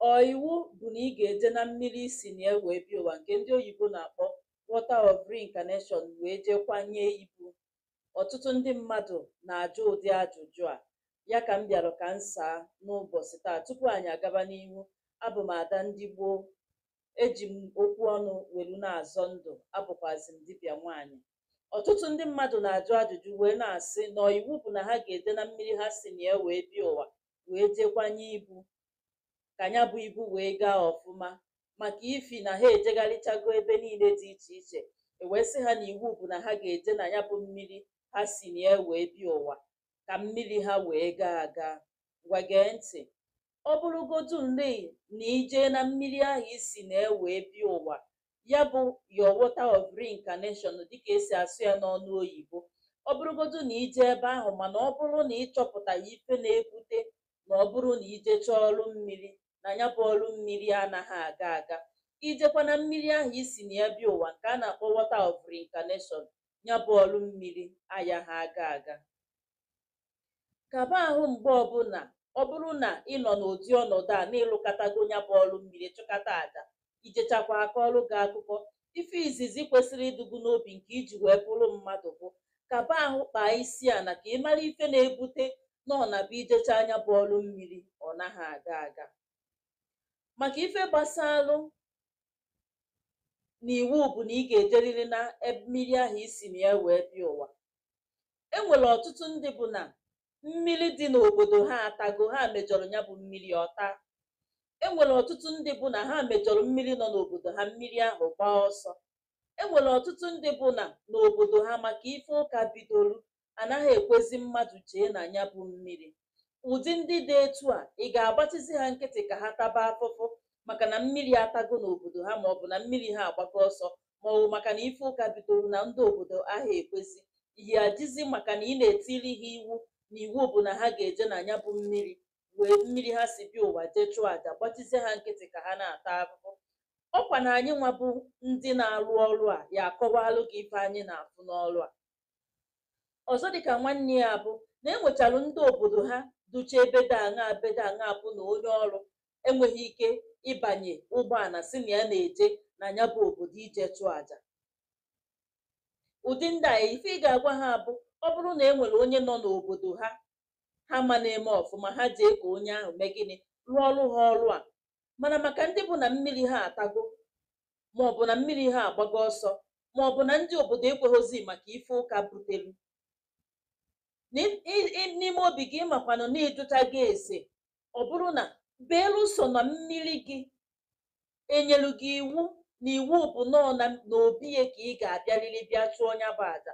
ọ iwu bụ na ị ga-eje na mmiri i si na ya wee bịa ụwa nke ndị oyibo na-akpọ water of reincarnation wee jee kwanye ibu ọtụtụ ndị mmadụ na-ajụ ụdị ajụjụ a ya ka m bịara ka m saa n'ụbọchị taa tupu anyị agaba n'ihu abụ m ada ndị gboo eji m okwu ọnụ welu na-azọ ndụ abụkwazi m dibịa nwaanyị ọtụtụ ndị mmadụ na-ajụ ajụjụ wee na-asị na iwu bụ na ha ga-eje na mmiri ha si na ya wee bịa ụwa wee jee kwanye ibu ka ya bụ ibu wee gaa ọfụma maka ifi na ha ejegharịchago ebe niile dị iche iche e wee sị ha na iwu bụ na ha ga-eje na ya bụ mmiri ha si na ya wee bịa ụwa ka mmiri ha wee gaa aga ngwa gee ntị ọ bụrụgodu nri na i je na mmiri ahụ i si na ya wee bịa ụwa ya bụ your water of reincarnation dịka e si asụ ya n'ọnụ oyibo ọ bụrụgodu na i je ebe ahụ mana ọ bụrụ na ị chọpụtaghị ife na-ebute na ọ bụrụ na i jechaa ọrụ mmiri na ya bụ ọrụ mmiri anaghị aga aga i jekwa na mmiri ahụ i si na ya bịa ụwa nke a na-akpọ water of reincarnation ya bụ ọrụ mmiri ayaghị aga aga kaba ahụ mgbe ọbụla ọ bụrụ na ị nọ n'ụdị ọnọdụ a na ị lụkatago ya bụ ọrụ mmiri chụkata aja i jechakwaa a kọọrụ gị akụkọ ife izizi kwesịrị ịdụ gụ n'obi nke i ji wee bụrụ mmadụ bụ kaba ahụ kpaa isi ana ka ị mara ife na-ebute na ọ na-abụ i jechaa nya bụ ọrụ mmiri ọ naghị aga aga maka ife gbasalụ na iwu bụ na ị ga-ejeriri na mmiri ahụ i si na ya wee bịa ụwa e nwere ọtụtụ ndị bụ na mmiri dị n'obodo ha atago ha mejọrọ ya bụ mmiri ọ taa e nwere ọtụtụ ndị bụ na ha mejọrọ mmiri nọ n'obodo ha mmiri ahụ gbaa ọsọ e nwere ọtụtụ ndị bụ na n'obodo ha maka ife ụka bidoro a naghị ekwezi mmadụ jee na ya bụ mmiri ụdị ndị dị etu a ị ga-agbachizi ha nkịtị ka ha taba afụfụ maka na mmiri atago n'obodo ha ma ọ bụ na mmiri ha agbago ọsọ ma ọ bụ maka na ife ụka bidoro na ndị obodo ahụ ekwezi ị ya-ejizi maka na ị na-etiri ha iwu na iwu bụ na ha ga-eje na ya bụ mmiri wee mmiri ha si bịa ụwa jee chụọ aja gbachizie ha nkịtị ka ha na-ata afụfụ ọkwa na anyị nwa bụ ndị na-arụ ọrụ a ya-akọwalụ gị ife anyị na-afụ n'ọrụ a ọzọ dịka nwanne ya bụ na e nwechalụ ndị obodo ha ducha ebe dị anya ebe dị anya bụ na onye ọrụ enweghị ike ịbanye ụgbọala si na ya na-eje na ya bụ obodo ije chụọ aja ụdị ndị a ife ị ga-agwa ha bụ ọ bụrụ na e nwere onye nọ n'obodo ha ha ma na-eme ọfụma ha jee ka onye ahụ mee gịnị rụọrụ ha ọrụ a mana maka ndị bụ na mmiri ha atago ma ọ bụ na mmiri ha agbago ọsọ ma ọ bụ na ndị obodo ekweghịzi maka ife ụka butelu N'im- i- i- n'ime obi gị ị makwanụ na ịjụta gị ese ọ bụrụ na belụsọ na mmiri gị enyelu gị iwu na iwu bụ na ọ na na obi ya ka ị ga-abịarịrị bịa chụọ nya bụ aja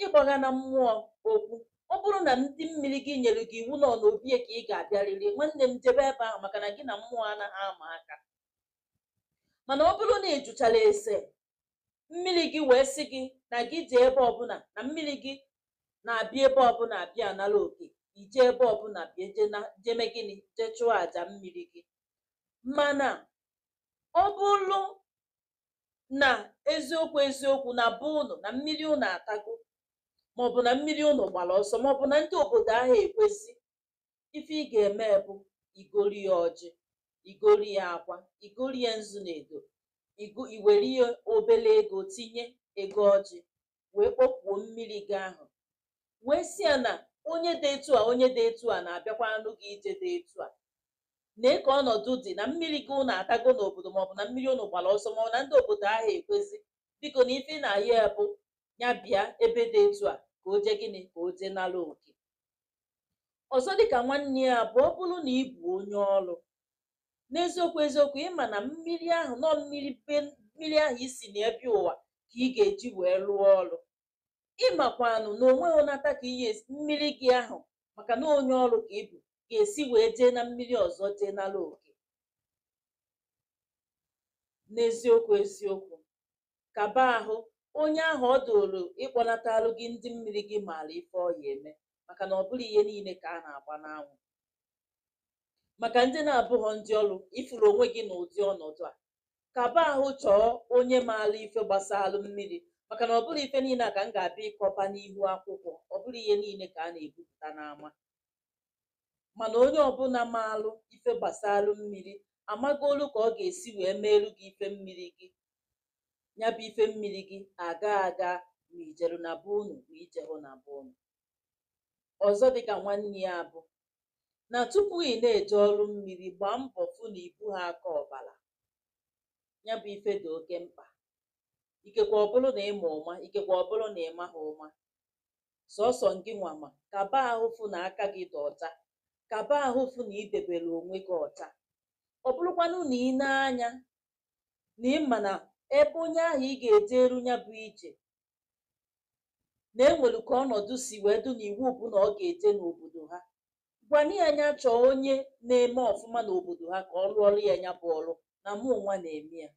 ịgbaghana mmụọ okwu ọ bụrụ na ndị mmiri gị nyere gị iwu na ọ n'obi ya ka ị ga-abịarịrị nwanne m jebe ebe ahụ maka na gị na mmụọ anaghị ama aka mana ọ bụrụ na ị jụchara ese mmiri gị wee sị gị na gị jee ebe ọbụla na mmiri gị na-abịa ebe ọbụla abịa anara oke i je ebe ọbụla bịa je na- jeme gịnị je chụọ aja mmiri gị mana ọ bụrụ na eziokwu eziokwu na be ụnụ na mmiri ụnụ atago maọbụ na mmiri ụnụ gbara ọsọ maọbụ na ndị obodo ahụ ekwezi ife ị ga-eme bụ igori ya ọjị igori ya akwa igori ya nzu na edo igo- iwere ya obele ego tinye ego ọjị wee kpọkuo mmiri gị ahụ wee si ya na onye dị etu a onye dị etu a na-abịakwanụ gị ije dị etu a nee ka ọnọdụ dị na mmiri gị ụnụ atago n'obodo maọbụ na mmiri ụnụ gbara ọsọ maọbụ na ndị obodo ahụ ekwezi biko na ife ị na-ayọ ya bụ ya bịa ebe dị etu a ka o jee gịnị ka o jee nara oke ọzọ dịka nwanne ya bụ ọ bụrụ na ị bụ onye ọrụ n'eziokwu eziokwu ịma na mmiri ahụ na ọ mmiri be mmiri ahụ i si na ya bịa ụwa ka ị ga-eji wee rụọ ọrụ ịmakwanụ na onwe onata ka ihe mmiri gị ahụ maka na onye ọrụ ka ị bụ ga-esi wee jee na mmiri ọzọ jee nara oke n'eziokwu eziokwu kaba ahụ onye ahụ ọ dụrụ ịkpọnatalụ gị ndị mmiri gị maara ife ọ ya-eme maka na ọ bụrọ ihe niile ka a na-agba n'anwụ maka ndị na-abụghọ ndị ọrụ ịfụrụ onwe gị n'ụdị ọnọdụ a kaba ahụ chọọ onye maara ife gbasalụ mmiri maka na ọ bụrọ ife niile a ka m ga-abịa ịkọba n'ihu akwụkwọ ọ bụrọ ihe niile ka a na-ebupụta n'ama mana onye ọbụla maalụ ife gbasalụ mmiri amagolu ka ọ ga-esi wee meelu gị ife mmiri gị ya bụ ife mmiri gị aga aga ma ijeru na be unu ma ijeru na be unu ọzọ dịka nwanne ya bụ na tupu ị na-eje ọrụ mmiri gbaa mbọ fụ na ibuha aka ọbara ya bụ ife dị oke mkpa ikekwe ọ bụrụ na ịma ụma ikekwe ọ bụrụ na ịmaha ụma sọsọ ngị nwa ma kaba ahụ fụ na aka gị dị ọcha kaba ahụ fụ na idebere onwe gị ọcha ọ bụrụkwanụ na ị na-anya na ị ma na ebe onye ahụ ị ga-ejere nya bụ ije na e nwere ka ọnọdụ si wee dụ na iwu bụ na ọ ga-eje n'obodo ha gwana ya nya chọọ onye na-eme ọfụma n'obodo ha ka ọ rụọrọ ya nya bụ ọrụ na mụ nwa na-eme ya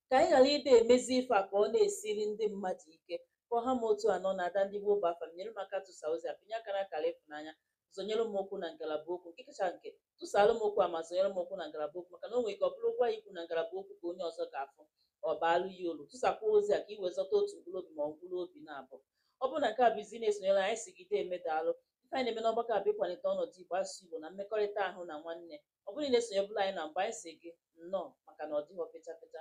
ka anyị ghara ịda emezi ife a ka ọ na-esiri ndị mmadụ ike ka ọ ha m otu a n'ọnụ ada ndị igbo bụ afa m nyere m aka tụsa ozi a pịnye aka na akara ịfụnanya zonyere m okwu na ngalaba okwu nke kacha nke tụsara m okwu a ma zonyere m okwu na ngalaba okwu maka na o nwere ike ọ bụrụ okwu ị ya-ekwu na ngalaba okwu ka onye ọzọ ga-afụ ọ baalụ ya ulu tụsakwa ozi a ka i wee zọta otu mkpụrụ obi ma ọ mkpụrụ obi naabọ ọ bụrụ na nke a bụ izizi na-esonyere anyị si gị deeme daalụ ife anyị na-eme n'ọgbakọ a bụ ịkwalite ọnọdụ igbo asụsụ igbo na mmekọrịta ahụ na nwanne ọ bụrụ na ị na-esonyebulu anyị na mbụ anyị si gị nnọọ maka na ọ dịghị ọpịcha pịcha